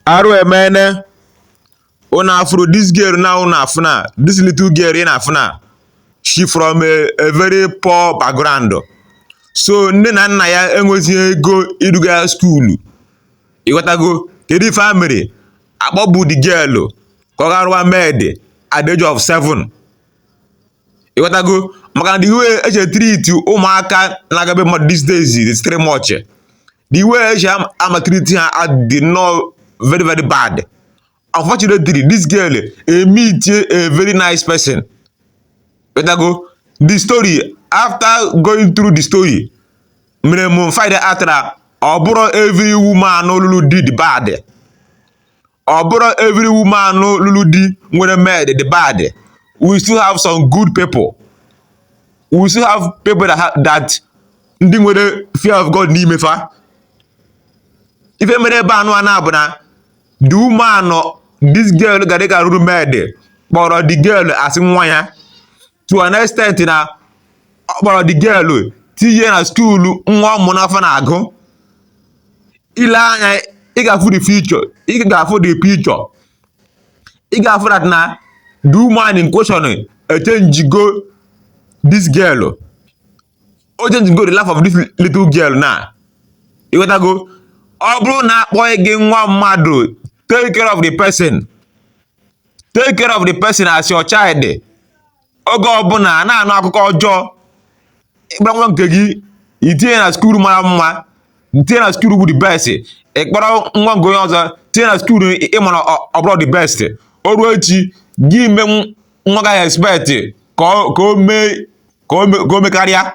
Arụ emene una afụrụ dis girl now una afụ na dis little girl ị na-afụ na she from a, a very poor background so nne na nna ya enweghị ego iduga ya skuulu ịghọtago ka the family akpọpụ the girl ka ọ gaa rụwa maid at the age of 7 ịghọtago maka na the way esi e treat ụmụaka na-aga be mmadụ these days is three much the way esi a maltreat ha adị nnọọ very very bad unfortunately this girl emeet a very nice person wetago the story after going through the story mere m find out na ọ bụrọ every woman lụlụ di dị bad ọ bụrọ every woman lụrụ di nwere maid dị bad we still have some good people we still have people that, ha- that ndị nwere fear of God n'ime fa ife mere ebe nụ a na-abụ na the woman this girl gara rụrụ maid kpọrọ the girl as nwa ya to an extent na ọ kpọrọ the girl tinye na skuulu nwa ọ mụ n'afọ na-agụ ile anya ị ga-afụ the future ị ga-afụ the picture ị ga-afụ that na the woman in question echenjigo this girl o chenjigo the life of this little girl na ịghọtago ọ bụrụ na akpọnye gị nwa mmadụ take care of the person take care of the person as your child oge ọbụna a na-anụ akụkọ ọjọọ ịkpọrọ nwa nke gị itinye na skuul mara mma tinye na skuul bụ the best ịkpọrọ nwa nke onye ọzọ tinye na skuul ịmara ọ bụrọ the best o ruo echi gị ime nwa ga-expect ka o mee ka o mekarịa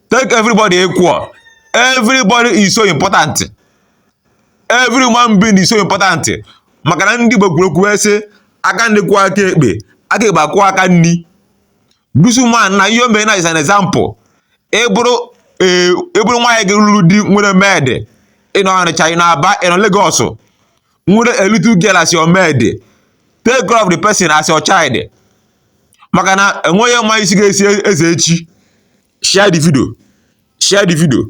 take everybody equal everybody is so important every human being is so important maka na ndị Igbo kwuru okwu wee sị aka nni kwọọ aka ekpe aka ekpe akwọọ aka nni this woman na ihe o mere na is an example ịbụrụ ee ịbụrụ nwaanyị gị lụrụ di nwere maid ịnọ Ọnịcha ịnọ Aba ịnọ Lagos nwere a little girl as your maid take care of the person as your child maka na enweghị ma isi ga-echi eze echi share the video share the video